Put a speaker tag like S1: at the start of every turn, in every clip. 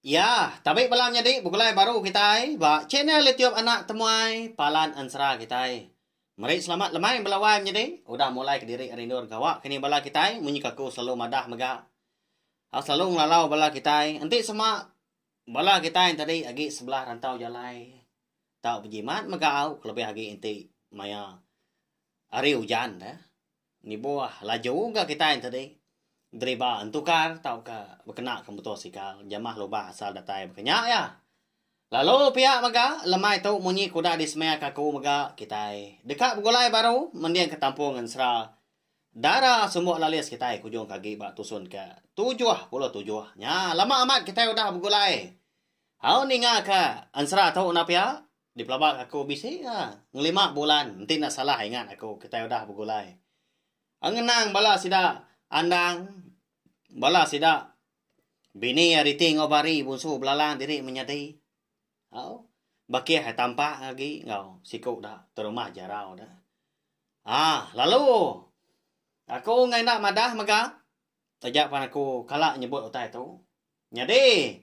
S1: Iya, tabi bala nyadi begulai baru kitai ba channel YouTube Anak Temuai Palan Ensera kitai. Meri selamat lemai bala wai menyedi udah mulai kediri ari endur gawa kini bala kitai munyi ka aku selalu madah mega au selalu ngelalau bala kitai enti sema bala kitai entadi agi sebelah rantau jalai tau bejimat mega au kelebih agi enti maya hari ujan da. Nibuh laju ga kitai enti di deriba entukar tauka bekenaka muto sikal jamah lubah asal datai baka nya iya. Lalu pia mega lemai tu munyi ke udah disemeaka aku mega kitai deka begulai baru mendingka tampung ensera dara sumbu lalis kitai ke ujung ke agi ba tusun ke tujuh puluh tujuh nya lama amat kitai udah begulai au ningaka ensera tu enda pia. Dipelaba ke aku bisi ka ngelima bulan enti enda salah ingat aku kitai udah begulai. Ngenang bala sida andang bala sida bini iya riti enggau bari bunsu belalang diri menyadi. Au bakih ai tampak agi enggau siku da terumah jarau da. Ah lalu aku enggai enda madah mega taja pan aku kala nyebut utai tu. Nyadi,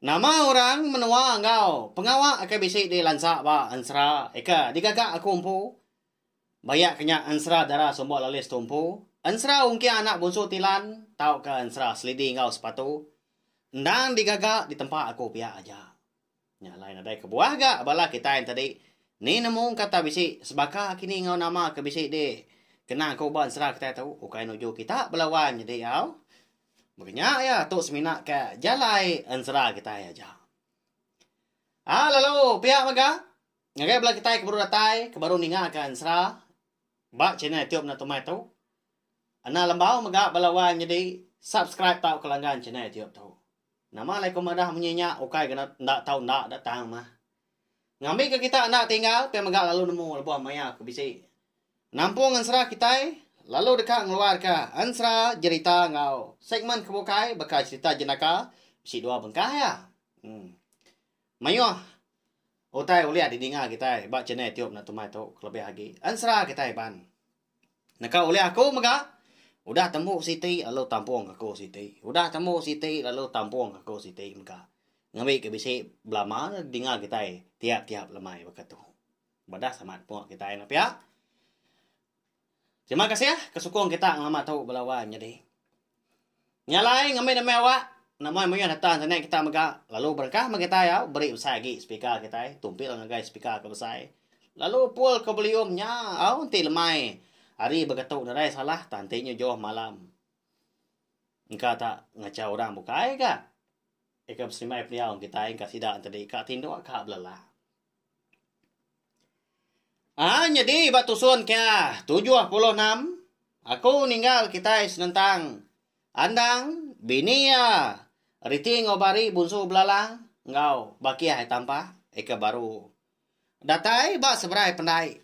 S1: nama orang menua enggau pengawa ke bisi dilansa ba ensera ika digaga aku empu? Bayak ke nya ensera dara Sumbok Lalis tu empu, ensera ungking anak bunsu Tilan tauka ensera Selidi enggau Sepatu endang digaga di tempa aku pia aja. Nya alai nadai kebuah ga bala kitai tadi. Ni nemu kata bisi sebaka kini enggau nama ke bisi di kena ku ba ensera kitai tu ukai nuju kita bala wan nyadi au. Baka nya iya tu semina ka jalai ensera kitai aja. A lalu pia mega ngagai bala kitai ke baru datai ke baru ninga ka ensera ba channel YouTube enda tumai tu enda lembau mega bala wan nyadi subscribe tauka langgan channel YouTube tu. Nama alai ku madah munyi nya ukai ke enda tau enda da tang mah. Ngambi ke kita enda tinggal pia mega lalu nemu lebuh maya ke bisi. Nampung ensera kitai lalu deka ngeluar ka ensera jerita enggau segmen ke bukai baka cerita jenaka bisi dua bengkah ya. Em. Mayuh utai ulih di dinga kitai ba channel Tube Natu Mai tu kelebih agi ensera kitai pan. Neka ulih aku mega. Udah tembu siti lalu tampung ke ku siti. Udah tembu siti lalu tampung ke ku siti mega. Ngembi ke bisi belama dinga kitai tiap-tiap lemai baka tu. Badah semat pua kitai nya pia. Terima kasih ke sukung kita ngelama tu bala wan nyadi. Nya alai ngambi demi awak nama mih data internet kita mega lalu berengkah meh kitai au beri besai agi speaker kitai tumpil ngagai speaker ke besai lalu pul ke volume nya au enti lemai hari beketu nadai salah tang enti nyu juh malam engka ta ngacha orang bukai ga ika besembai pendiau ngan kitai engka sida enti ka tinduk ka belalah. Aa nyadi ba tusun kia tujuh puluh enam aku ninggal kitai senentang Andang bini iya reti enggau bari bunsu belalang enggau bakih ai tampah ika baru datai ba seberai pendai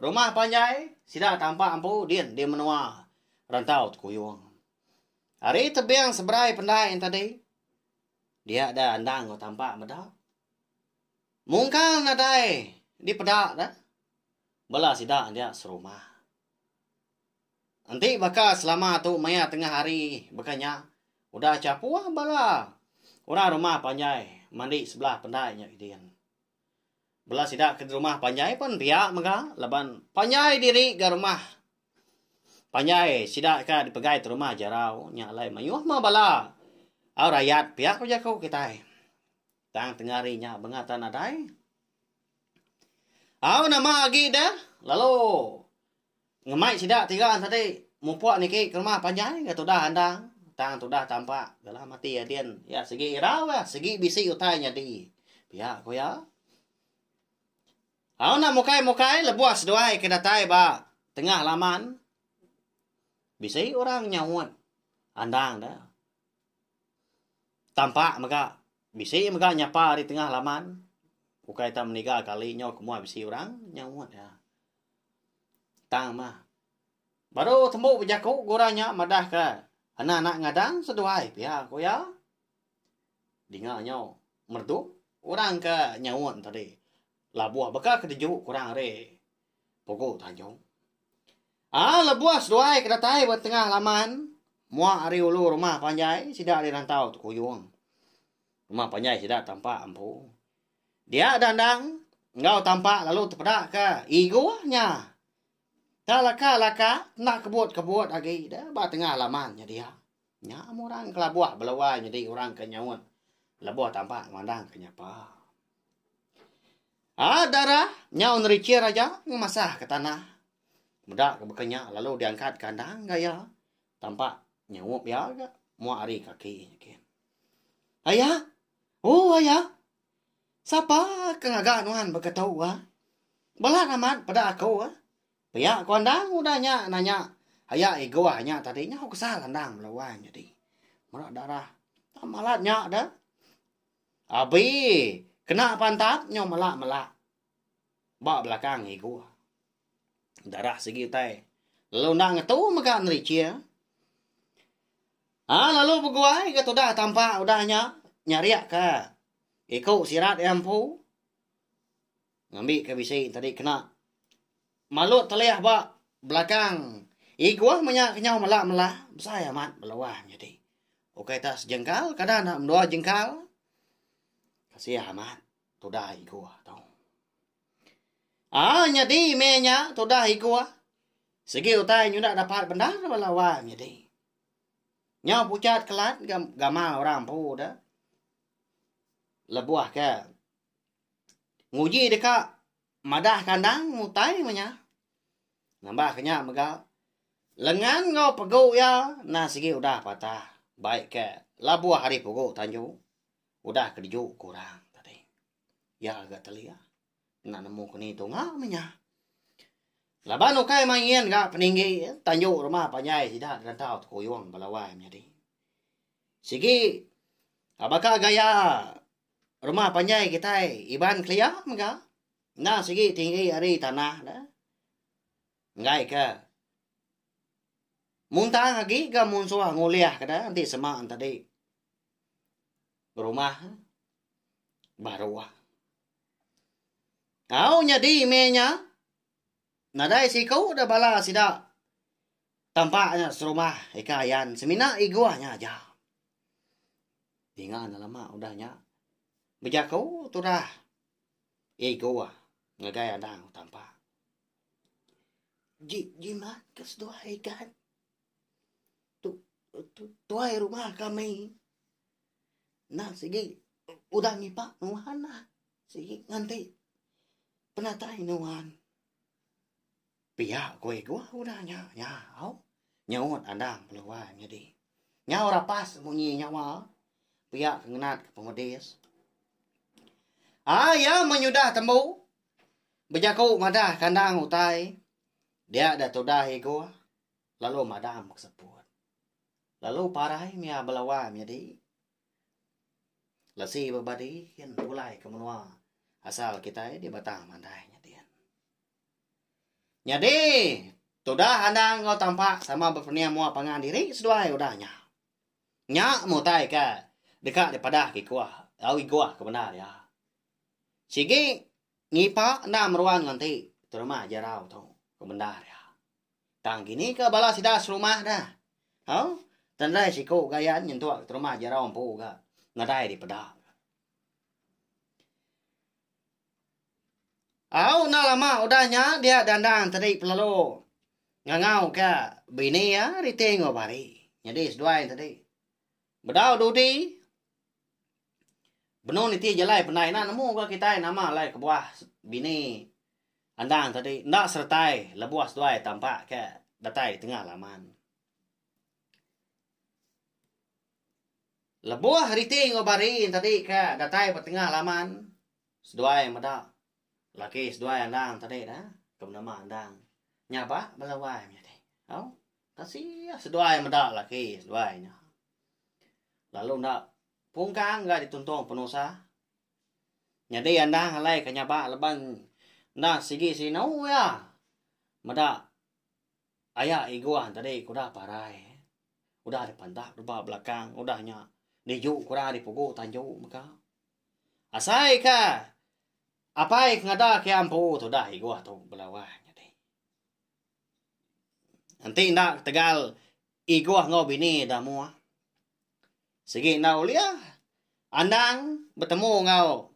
S1: rumah panjai sida tampah empu din di menua Rantau Tekuyung. Ari tebing seberai pendai yen tadi dia da Andang enggau tampah meda. Mungkal nadai dipeda da bala sida nya serumah. Enti baka selama tu maya tengah hari baka nya udah chapuh bala orang rumah panjai mandi sebelah pendai nya kidin. Bala sida ke rumah panjai pun pia mega laban panjai diri ga rumah panjai sida ka dipegai ti rumah jarau nya alai mayuh meh bala au rayat pia ku jaku kitai. Tang tengah hari nya bengatan nadai. Au nama agi da lalu ngemai sida tiga tadi mupuk niki ke rumah panjai ke tudah andang tang tudah tampak galah mati adin ya segi irau ya segi bisi utai nyadi pia ko ya au nak mukai mukai lebuh seduai ke datai ba tengah laman bisi orang nyaut andang da Tampa mega bisi mega nyapa ari tengah laman ukai ita meniga kali nyau ke mua bisi orang nyau mut iya. Tang mah baru tembu bejaku ku orang nya madahka enda nak ngadang seduai pia ku iya. Dinga nyau merdu orang ke nyaut tadi labuh baka kereju ku orang ri Pugu Tanjung. Aa lebuh seduai ke datai ba tengah laman mua ari ulu rumah panjai sida ari rantau Tekuyung. Rumah panjai sida tampak empu. Dia dandang enggau tampak lalu tepeda ke igoh nya. Tang laka-laka enda kebut-kebut agi deh ba tengah laman nya dia. Nya ama orang kelabuh belawai nyadi orang ke nyaut lebuh tambah ngemandangka nya pa. Aa dara nyau nerichir aja ngemasahka tanah. Meda ke baka nya lalu diangkatka endang ga iya tambah nyaup iya ga mua ari kaki nya gin. Aya, oh aya sapa ke ngaga nuan baka tu ah. Balat amat peda aku ah. Pia ko Andang udah nya nanya aya Egoh nya tadi nyau ke sal Andang bala wai nyadi mera darah tang malat nya dah abi kena pantat nyau mela mela ba belakang Egoh darah sigi utai lalu enda ngetu mega nerichie ha lalu beguai ga tudah tampa udah nya nyariak ka iko sirat iya empu. Ngambika bisi tadi kena malut telih ba belakang iguh menya kenyau mela mela besai amat beluah nyadi. Ukai tak sejengkal kada enda mendua jengkal. Kasih amat tudah iguh tu. Ah nyadi meh nya tudah iguh. Segi utai nyudak dapat bendar bala wang nyadi. Nyau pucat kelat gamal orang empu dah. Lebuh ke nguji deka madah kandang utai meh nya. Nambah ke nya mega lengan enggau pegu iya endang sigi udah patah bai ke labuh ari pugu tanju udah kereju ke orang tadi. Iya ga telia enda nemu keni tunga meh nya. Laban ukai mah nyin ga peninggi tanju rumah panjai sida gerantau tekuyung bala wai menyadi. Sigi baka gaya Rumah panjai kitai Iban kelia mega endang sigi tinggi ari tanah ne. Enggaika muntang agi ga mun suah ngulihka da enti sema tadi rumah baruh. Au nyadi meh nya Nadai siku da bala sida tampak nya serumah ika ayan semina iguh nya aja. Dinga nelama udah nya bejaku turah iguh ngagai anang tampak. Ji jimat ke seduai ikan. Tu tu tuai rumah kami. Endang sigi udah ngipak nuan lah. Sigi nganti penatai nuan. Pia ku ego udah nya nyau. Nyeut Andang Peluai nyadi. Nyau rapas munyi nyawa. Pia ke ngenat ke pemedis. Ah, iya menyudah tembu. Bejaku madah kandang utai. Dia da tudah ego. lalu madam ke seput. Lalu parai mia belawa nyadi lesi bebadi kin pulai ke menua asal kitai di Batang Mandai nya din. Nyadi tudah andang enggau tampak sama bepening mua pangan diri seduai udah nya. Nya mutai ke deka dipadah ke ikuh au iguh ke bendar iya. Sigi ngipa enda meruan nganti terima jerau tu ke bendar iya. Tang kini ka bala sida serumah dah. Au, tendai siku gayan nyentuk ke terumah jerau empu ga nadai dipeda. Au enda lama udah nya dia Dandang tadi pelalu ngangau ka bini iya riti enggau bari. Nyadi seduai tadi. Bedau dudi, benung niti jalai pendai ina nemu ga kitai nama alai kebuah bini andang tadi enda seretai lebuh seduai tampak ke datai tengah laman. Lebuh riti enggau bari tadi ke datai ba tengah laman seduai meda Laki seduai andang tadi da ke menema andang nya ba bala wai menyadi. Au tasih seduai meda laki seduai nya lalu enda pungkang ga dituntung penusah nyadi andang alai ke nyaba leban enda sigi sinu iya meda aya iguan tadi ke udah parai udah dipandap deba belakang udah nya niju kurang ari pugu tanju mega. Asai ka Apai ke ngada ke ampu tudah igoh tu bela wang nyadi. Enti enda ketegal igoh enggau bini da moa. Sigi enda ulih andang betemu enggau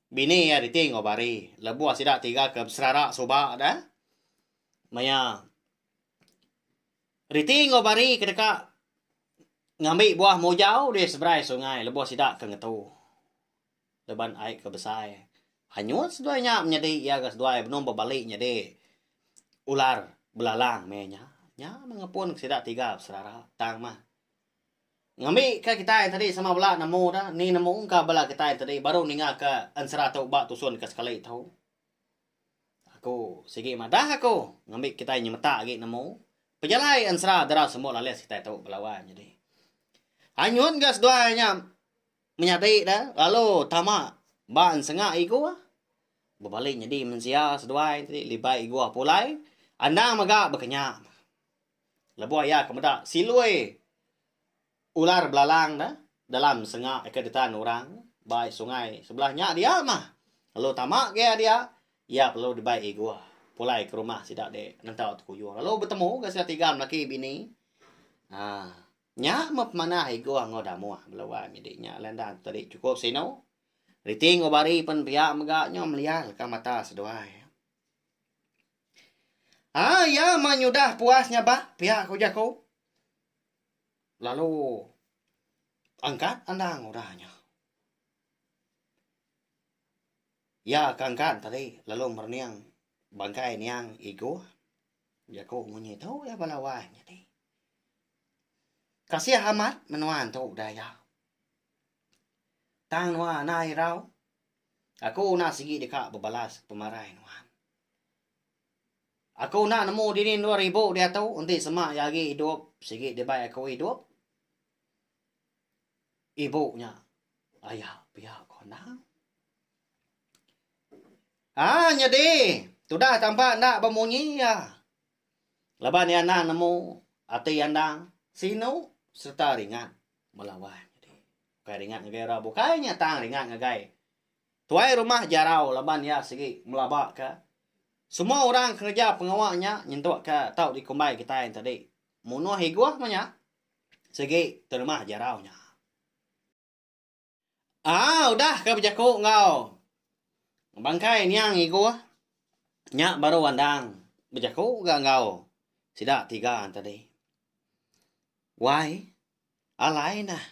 S1: bini iya riti enggau bari lebuh sida tiga ke beserara suba da maya Riti enggau bari ke deka ngambi buah mujau deh seberai sungai lebuh sida ke ngetu laban ai ke besai hanyut seduai nya menyadi iya ga seduai benung ba bali nyadi ular belalang meh iya nya. Nya meh ngepun ke sida tiga beserara tang meh ngambi ka kitai tadi sama bala nemu da ni nemu engka bala kitai tadi baru ninga ka ensera tu ba tusun ka sekali tu. Aku sigi madah aku ngambi kitai nyemetak agi nemu pejalai ensera dara sembu lalis kitai tu bala wan nyadi. Anyun ga seduai nya menyadi da lalu tama ba ensengak igua bebali nyadi mensia seduai ti libai igua pulai andang mega bekenya. Lebuh iya ke meda silui ular belalang ne dalam senga ke ditan orang ba sungai sebelah nya dia mah lalu tama ke dia iya perlu dibai iguh pulai ke rumah sida di Ngentau Tekuyung lalu betemu ga sida tiga lelaki bini aaa nya meh pemanah iguh enggau damuh bala wai mih di nya lain dang tadi chukup sinu reti enggau bari pen pia mega nyu melial ka mata seduai. Ah iya meh nyudah puas nya ba pia ku jaku. Lalu angkat andang udah nya. Iya ke angkat tadi lalu merening bangkai niang Igoh. Jaku munyi tu iya bala wai nya ti. Kasih amat menua tu udah iya. Tang nuan ai irau. Aku udah sigi deka bebalas pemarai nuan. Aku enda nemu dini endur ibu diatu enti sema iya agi idup sigi dibai aku idup ibu nya aya pia ko endang. Haa nyadi tudah tampa enda bemunyi iya laban iya enda nemu ati iya endang sinu sereta ringat melawan. Bukai ringat ngagai orang bukai nya tang ringat ngagai Tuai rumah jarau laban iya sigi ngelabaka semua orang kereja pengawa nya nyentukka tau dikumbai kitai enti tadi munuh igoh meh nya sigi ti rumah jarau nya. Aa udah ka bejaku enggau bangkai niang igoh nya baru andang bejaku ga enggau sida tiga enti tadi. Wai, alai nah.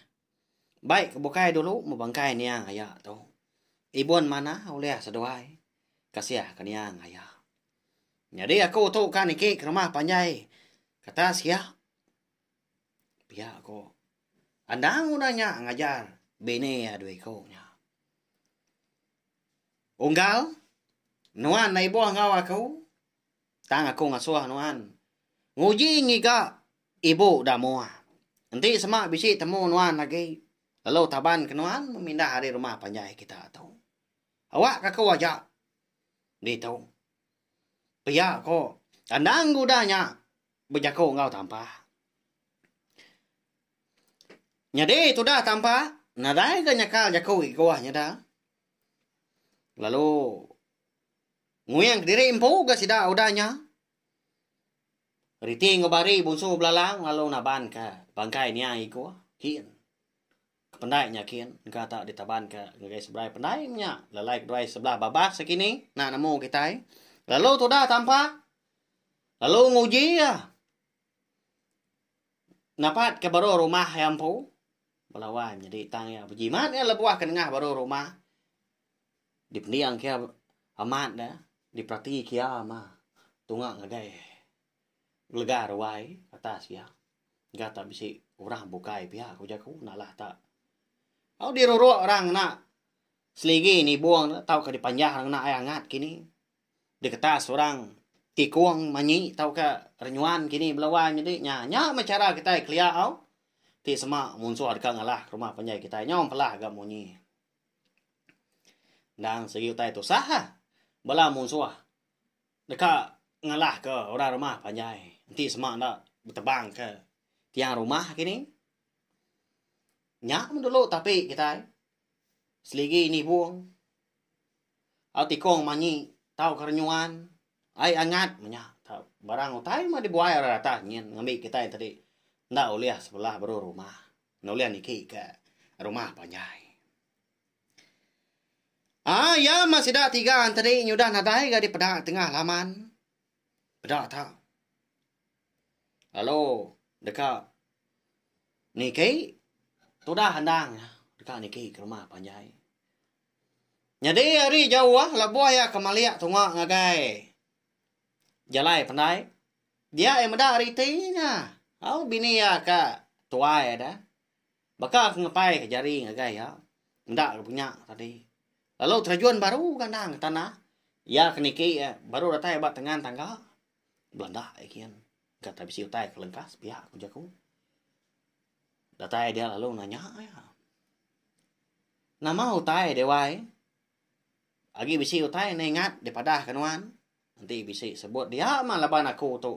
S1: Bai ke bukai dulu bebangkai niang aya tu. Ibun manah ulih seduai kasihka niang aya. Nyadi aku tu ka niki ke rumah panjai kata sia. Pia ku. Endang udah nya ngajar bini iya dua iku nya. Unggal nuan enda ibuh enggau aku. Tang aku ngasuh nuan nguji ngiga ibu Damoa. Enti sema bisi temu nuan agi, lalu taban ke nuan memindah ari rumah panjai kita tu. Awak ka aku aja ditu. Pia ko kandang guda nya bejako enggau Tampa. Nyadi tudah Tampa nadai ga nyakal jako igua nyada. Lalu. Nguyang kediri empu ga sida udah nya. Riti enggau Bari bunsu belalang lalu naban ka bangkai nia iku kin. Kependai nya kin engka tak ditaban ka ngagai seberai pendai menya lalai keduai sebelah babas sekini nak nemu kitai lalu tudah tampa lalu nguji iya napat ka baruh rumah iya empu belawan nyadi tang iya bejimat iya lebuh ke nengah baruh rumah. Dipending kia amat da diperati kia ma tunga ngagai gelega ruai atas iya ga ta bisi orang bukai pia ku jaku nalah ta. Au diruruk orang ngena seligi nibung ne tauka dipanjah orang ngena ai angat kini diketas orang tikung manyi tauka renyuan kini bala wai nyadi nya nya mah chara kitai kelia au ti sema munsuh deka ngalah rumah panjai kitai nyau mpelah ga munyi. Endang sigi utai tusah ha. Bala munsuh deka ngalahka orang rumah panjai enti sema enda betebangka tiang rumah agi ni. Nya mun dulu tapi kitai seligi nibung au tikung manyi tau ke renyuan ai angat meh nya tau. Barang utai meh dibuai orang ratah nyin ngambi kitai tadi enda ulih sebelah baruh rumah. Nulung niki ke rumah panjai. Ah, iya mah sida tiga enteri nyudah nadai ga dipeda tengah laman. Peda ta. Lalu deka niki tudah endang deka niki ke rumah panjai. Nyadi hari jauh lebuh iya ke malik tunga ngagai jalai pandai. Dia iya meda ari iti nya. Au bini iya ka tuai ada. Baka ke ngepai ka jari ngagai iya. Enda ke punya tadi. Lalu terjun baru ga endang ke tanah. Iya ke niki iya baru datai ba tengan tangga. Belanda iya gin. Engka tau bisi utai ke lengkas pia ku jaku. Datai dia lalu nanya iya. Nama utai deh wai. Agi bisi utai ne ingat dipadah ke nuan. Enti bisi sebut dia mah laban aku tu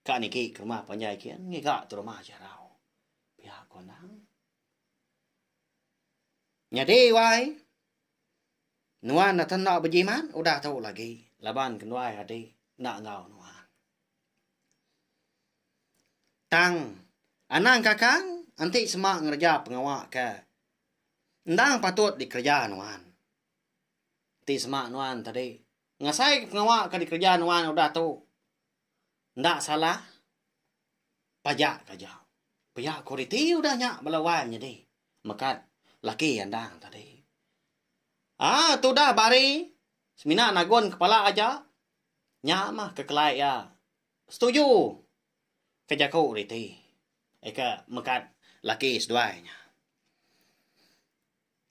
S1: ka niki ke rumah panjai kin ngiga tu rumah jarau. Pia ko anang. Nyadi wai. Nuan dah tenda bejimat udah tu lagi laban kenduai adi enda enggau nuan. Tang anang kakang enti sema ngereja pengawa ke endang patut dikereja nuan. Ti sema nuan tadi. Ngasai ke pengawa ke dikereja nuan udah tu. Enda salah. Pajak ke aja. Pia ko riti udah nya bala wai nyadi. Mekat laki andang tadi. Aaa tudah bari semina nagun kepala aja. Nya mah kekelai iya. Setuju ke jaku riti. Eka mekat laki seduai nya.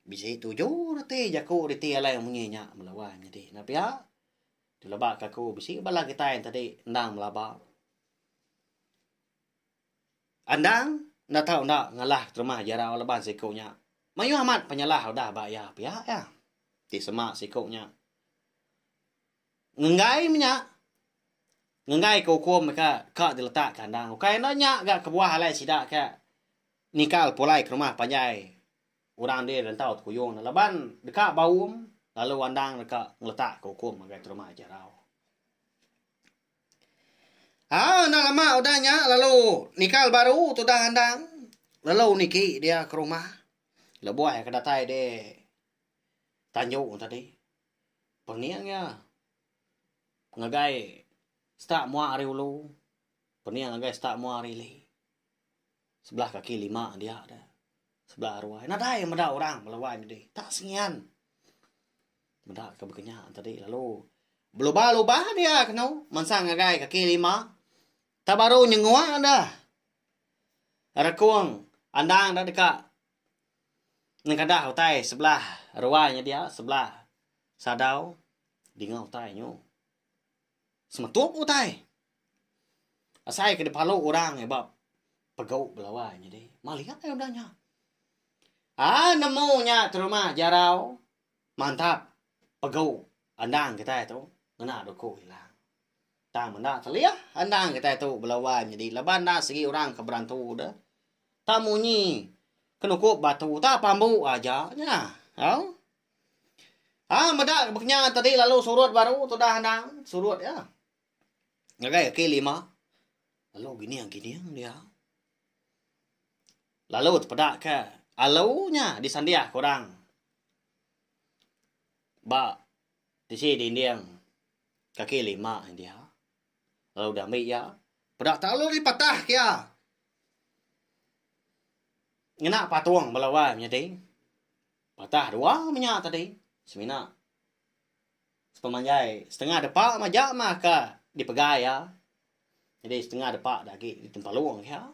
S1: Bisi tuju reti jaku reti alai munyi nya bala wang nyadi enda pia. Dilebak ka aku bisi bala kitai tadi endang belaba. Endang enda tau enda ngalah keterima jerau laban siku nya mayuh amat penyalah udah ba iya pia iya. Ti sema siku nya ngenggai menya ngenggai ka ukum ka ka diletak ka endang. Ukai enda nya ga kebuah alai sida ka nyingkal pulai ke rumah panjai. Orang andi rentau tekuyung ne laban deka baum lalu andang deka ngeletakka ukum ngagai terma aja rau. Aa enda lama udah nya lalu nikal baru tudah andang lalu niki dia ke rumah lebuh iya ke datai di tanju tadi pening iya ngagai seta mua ari ulu pening ngagai seta mua ari ili. Sebelah kaki lima dia deh. Sebelah aruai. Nadai meda orang belawai medi. Tak sengian. Meda ke bekenya tadi lalu. Belubah-lubah dia kenu. Mansang ngagai kaki lima. Tak baru nyengua dah. Rekung. Andang dah deka. Nengkadah utai sebelah aruai nya dia. Sebelah sadau. Dingau utai nyu. semetup utai. Asai ke dipalu orang iya ba pegau belawai nyadi maling apai udah nya. Aa nemu nya ke rumah jarau mantap pegau andang kitai tu ngena doku ila. Tang menda telih andang kitai tu belawai nyadi laban enda segi orang ke berantu deh. Tang munyi ke nukup batu tang pambu aja nya. Au. Ha meda kenya tadi lalu surut baru tudah anang surut ya. Ngagai aki lima. Lalu gining gining dia. Lalu tepeda ke alu nya disandiah ke orang. Ba tisi dinding kaki lima dia. Lalu dia ambil iya. Peda talu ni patah ke iya. Ngena patung bala orang nyadi. Patah dua menya tadi semina sepemanjai setengah depa maja mah ka dipegai iya jadi setengah depa da agi ditempalung iya.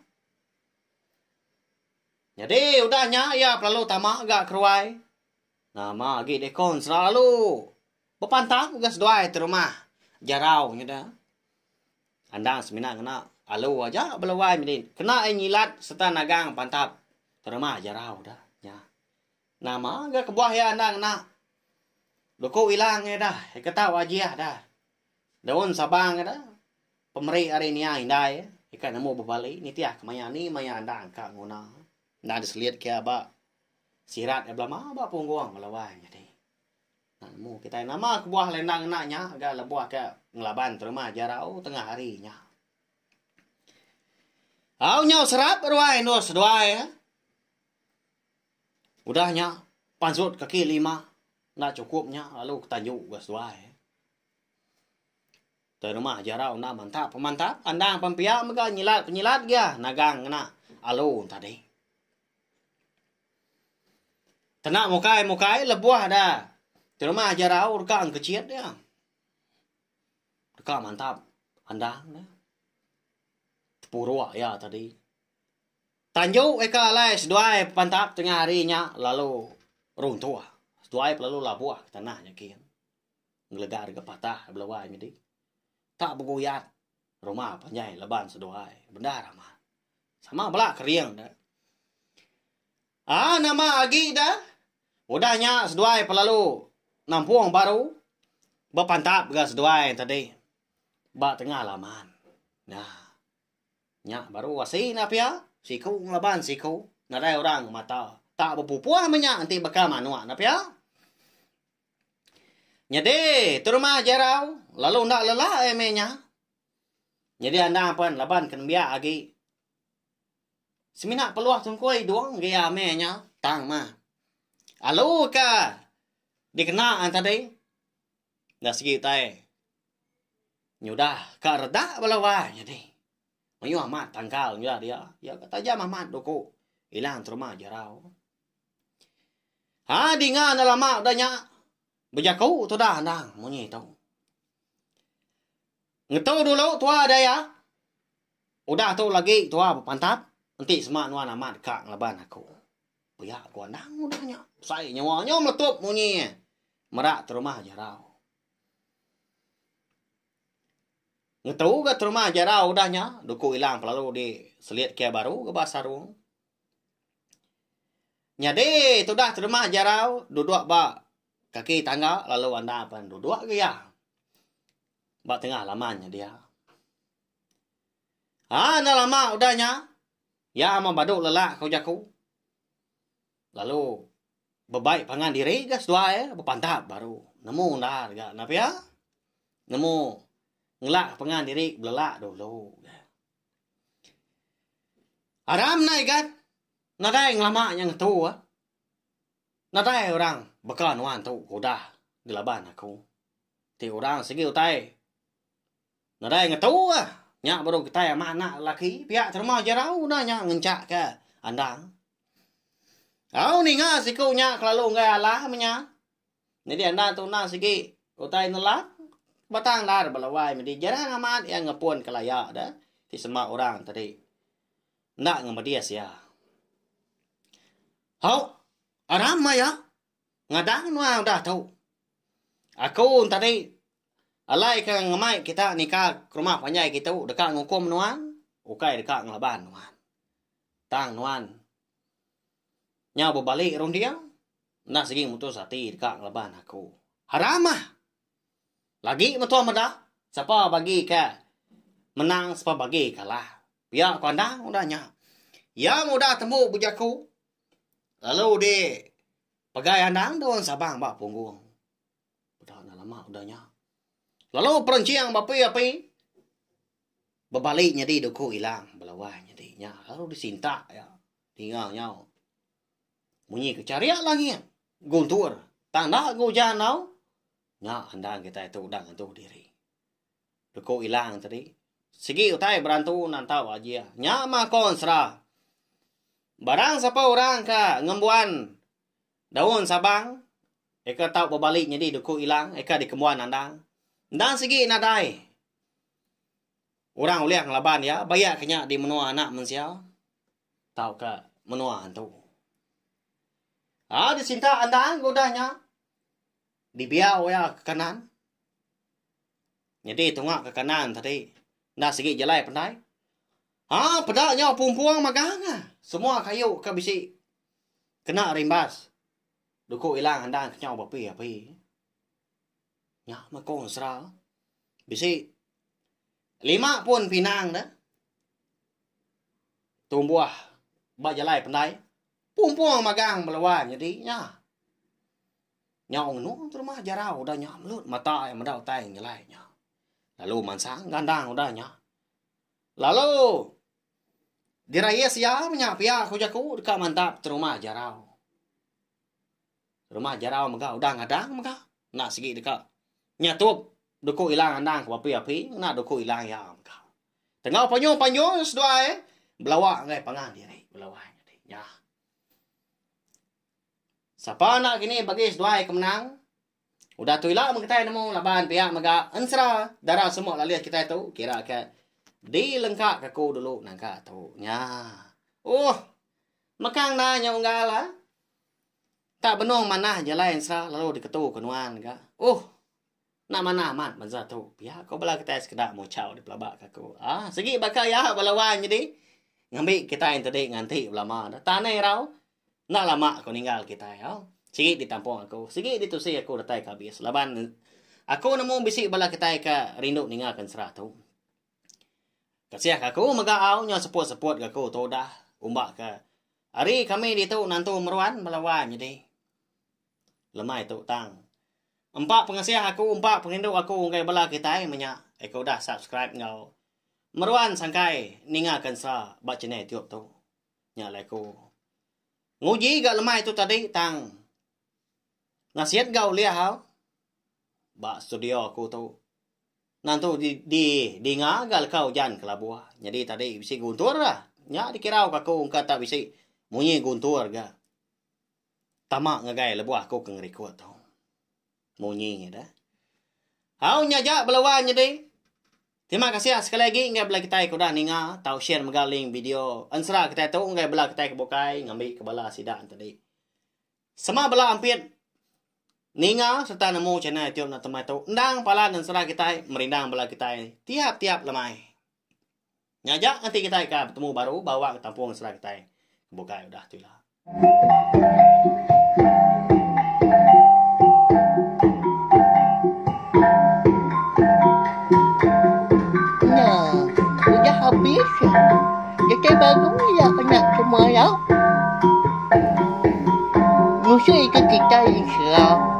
S1: Jadi udah nya iya pelalu tama ga ke ruai nama agi dikon selalu bepantang ga seduai ti rumah jarau nyida. Andang semina ngena alu aja bala wai medi kena ai nyilat sereta nagang pantap terma jarau da nya. Nama ga kebuah iya enda ngena doku ilang iya da ika tau ajih da. Daun sabang iya da pemeri ari nia indai ika nemu bebali nitih ka maya ni maya andang ka nguna enda diselit ke ba sirat iya belama ba punggung bala wai nyadi. Nemu kitai nama kebuah lenda ngena nya ga lebuh ke ngelaban terima Jarau tengah hari nya. Au nyau serap ruai endur seduai. Eh. Udah nya pansut kaki lima enda cukup nya lalu ketanju ga seduai. Eh. Te rumah Jarau enda mantap pemantap andang pempiak mega nyilat penyilat gia nagang ngena alu tadi. Kena mukai mukai lebuh da terima jerau deka engkechit dia. Deka mantap andang dia. Tepuruk iya tadi. Tanju eka alai seduai pantap tengah hari nya lalu runtuh. Seduai pe lalu labuh ke tanah nya kin. Ngelega deka patah bela wai nyadi. Ka beguyat Rumah panjai leban seduai. Bendar amat. Sama bela kering da. Ah nama agi da. Udah nya seduai pelalu nampung baru bepantap ga seduai tadi ba tengah laman. Nah. Nya baru asi na pia siku ngelaban siku nadai orang ngemata. Tak bepupuh menya enti baka manok na pia. Nyadi, tu rumah Jerau lalu enda lelak ai meh nya. Nyadi anang pen laban ke nembiak agi semina peluh tungkoi dung agi iya meh nya tang mah. Alu ka dikena tadi da segi utai nyudah ka redak bala wai nyadi. Mayuh amat tangkal nyudah dia. Iya ka tajam amat duku ilang terumah Jerau. Ha dinga enda lama udah nya bejaku tudah anang munyi tu. Ngetu dulu tuah daya udah tu lagi tuah bepantap enti sema nuan amat deka ngelaban aku. Pia ku anang udah nya besai nyawa nyu meletup munyi e mera terumah jarau. Ngetu ga terumah jarau udah nya duku ilang pelalu di selit kia baru ga ba sarung. Nyadi tudah terima jarau dudok ba kaki tangga lalu anda pen dudok ga iya ba tengah laman nya dia. Aa enda lama udah nya iya meh badu lelak ko jaku lalu bebai pangan diri ga seduai bepantap baru nemu undar ga na pia nemu ngelak pangan diri belelak dulu. Aram nai gat nadai ngelama nya ngetu ah. Nadai orang baka nuan tu ke udah ngelaban aku. Ti orang sigi utai nadai ngetu ah. Nya baru kitai amat anak lelaki pia terma jerau udah nya ngenchak ke andang. Au ninga siku nya kelalu enggai alah menya. Nyadi enda tunah sigi utai nelang batang endar belawai medi jarang amat iya ngepun ke laya de ti sema orang tadi enda ngemedis iya. Hau aram maya ngadan menua udah tu. Aku tadi alai ke ngemai kita nika ke rumah panjai kitu deka ngukum nuan ukai deka ngelaban nuan. Tang nuan Nyau bebali runding, enda sigi mutus ati deka ngelaban aku. Haramah! Lagi metuah meda, sapa bagi ke menang sapa bagi kalah. Pia ku Andang udah nya. Iya meh udah tembu bejaku lalu di pegai Andang daun sabang ba punggung. Peda enda lama udah nya. Lalu perenching beapi-api bebali nyadi duku ilang belawai nyadi nya lalu disintak iya. Ninga nyau. Munyi ke chariak langit. Guntur. Tang enda ke ujan tau. Nya andan kitai tu udah ngentu diri. Leku ilang tadi. Sigi utai berantu nantau ajia. Nya mah ko ensera. Barang sapa orang ka ngembuan daun sabang eka tau bebali nyadi leku ilang eka dikembuan andang. Endang sigi nadai. Orang ulih ngelaban iya bayak ke nya di menua anak mensia tauka menua antu. Au disintak endang ke udah nya dibiau iya ke kanan. Nyadi tunga ke kanan tadi enda sigi jalai pendai. Ha peda nyau pumpung magang ah. Semua kayu ke bisi kena rimbas duku ilang endang ke nyau bepi-api. Nya mekong sera. Bisi. Lima pun pinang dah. Tumbuh ba jalai pendai. Pumpung magang beluan jadi nya. Nyau ngenu terima jarau udah nya melut mata iya meda utai ngan jalai nya. Lalu mansang gandang udah nya. Lalu dirais iya menya pia ku jaku deka mantap terima jarau. Rumah Jarau mega udah ngadang mega enda sigi deka nyatup duku ilang andang ke api-api ngena duku ilang iya mega. Tengau panyung-panyung seduai belawa ngagai pangan diri belawa nyadi nya. Sapa enda kini bagi seduai ke menang Udah tu ila meh kitai nemu laban pia mega ensera dara semua lalih kitai tu kira ke dilengka ke aku dulu nangka tu nya. Ohh mekang enda nya unggal ah. Tak benung manah jalai ensera lalu diketu ke nuan ga. Ohh enda manah amat bansa tu. Pia ko bala kitai sekeda muchau dipelaba ke aku. Aaa sigi baka iya bala wan nyadi ngambi kitai enti nganti belama dah. Tang neh irau. Enda lama aku ninggal kitai tau. Sigi ditampung aku. Sigi ditusi aku datai ke abis. Laban aku nemu bisi bala kitai ke rindu ninga ke ensera tu. Kasih ke aku mega au nyau seput-seput ke aku tu udah. Umba ke hari kami ditu nantu meruan bala wan nyadi. Lemai tu tang. Empa pengasih aku, empa perindu aku enggai bala kitai menya eh, ke udah subscribe enggau meruan sangkai ninga ke ensera ba channel YouTube tu. Nya alai ku. Nguji ga lemai tu tadi tang nasit ga ulih au ba studio aku tu. Nan tu di di dinga ga leka ujan kelabu nyadi tadi bisi guntur la. Nya dikira ka aku engka tak bisi munyi guntur ga tama ngagai lebuh aku ke ngerikut tu. Munyi dah. Au nya aja bala wan nyadi. Terima kasih sekali lagi enggai bala kitai ke udah ninga tau share mega link video ensera kitai tu enggai bala kitai ke bukai ngambi ke bala sida tadi. Sema bala ampit ninga serta nemu channel YouTube Nathan Mai tu endang pala nensera kitai merindang bala kitai tiap-tiap lemai. Nyaja enti kitai ka betemu baru ba wang tampung sera kitai ke bukai udah tu ila.
S2: Nya, udah habis ya. Datai baru ya anak semua ya. Musuh itu kitai Islam.